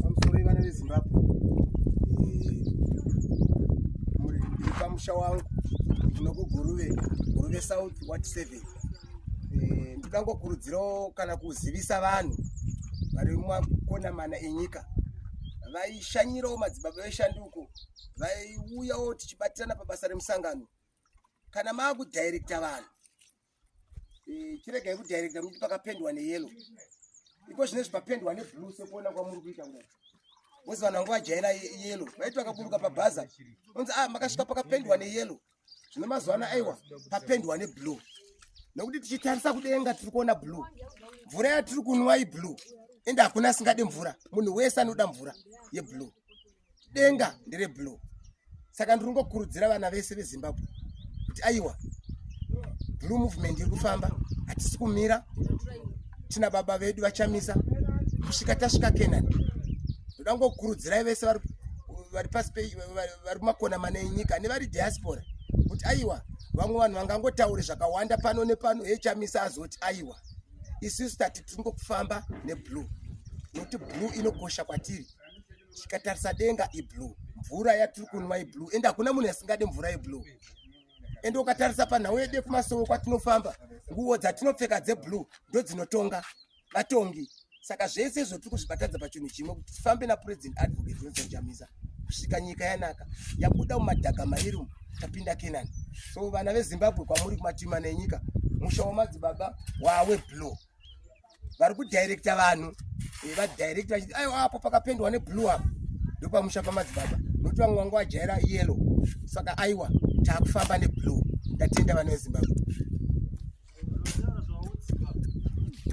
pamusoro ivana vezimbabwe pamusha wangu ndinokuguruve guruve south wat seven eh, ndikangokurudzirawo kana kuzivisa vanhu vari mumakona mana enyika vaishanyirawo madzibaba veshanduko vaiuyawo tichibatirana pabasa remusangano kana maakudhairekta vanhu Eh, chiregai kudirecta ruti pakapendwa neyelo iko zvine zvipapendwa neblue sekuona kwamuri kuita kudai wozi vanhu vangu vajaira yelo vaiti vakaburuka pabhaza onzi a ah, makasvika pakapendwa neyelo zvine mazuva ano aiwa papendwa neblue nekuti tichitarisa kudenga tiri kuona blue mvura yatiri kunwa iblue ende hakuna asingade mvura munhu wese anoda mvura yeblue denga ndere blue saka ndiri kungokurudzira vana vese vezimbabwe kuti aiwa blue movement iri kufamba hatisi kumira tina baba vedu vachamisa kusvika tasvika kenani ndoda kungokurudzirai vese vari pasi vari kumakona mana enyika nevari diaspora kuti aiwa vamwe vanhu vangangotauri zvakawanda pano nepano echamisa azoti aiwa isusu tati tiri ngokufamba neblue nokuti blue inokosha kwatiri tikatarisa denga iblue mvura yatiri kunwa iblue ende hakuna munhu asingade mvura yeblue ende ukatarisa panhau yede kumasowo kwatinofamba nguwo dzatinopfeka dzeblue ndo dzinotonga vatongi saka zvese izvo tiri kuzvibatadza pachinhu chimwe kuti tifambe napresident advocate johnson chamisa kusvika nyika yanaka yabuda mumadhaga mairi umu tapinda kenani so vana vezimbabwe kwamuri kumatima nenyika musha wamadzibaba waweblue vari kudirecta vanhu eh, vadirecta vachiti aiwa apo pakapendwa neblue apo ndopamusha pamadzibaba nokuti vamwe vanga vajaira yellow saka aiwa taakufamba neblue ndatenda vana vezimbabwe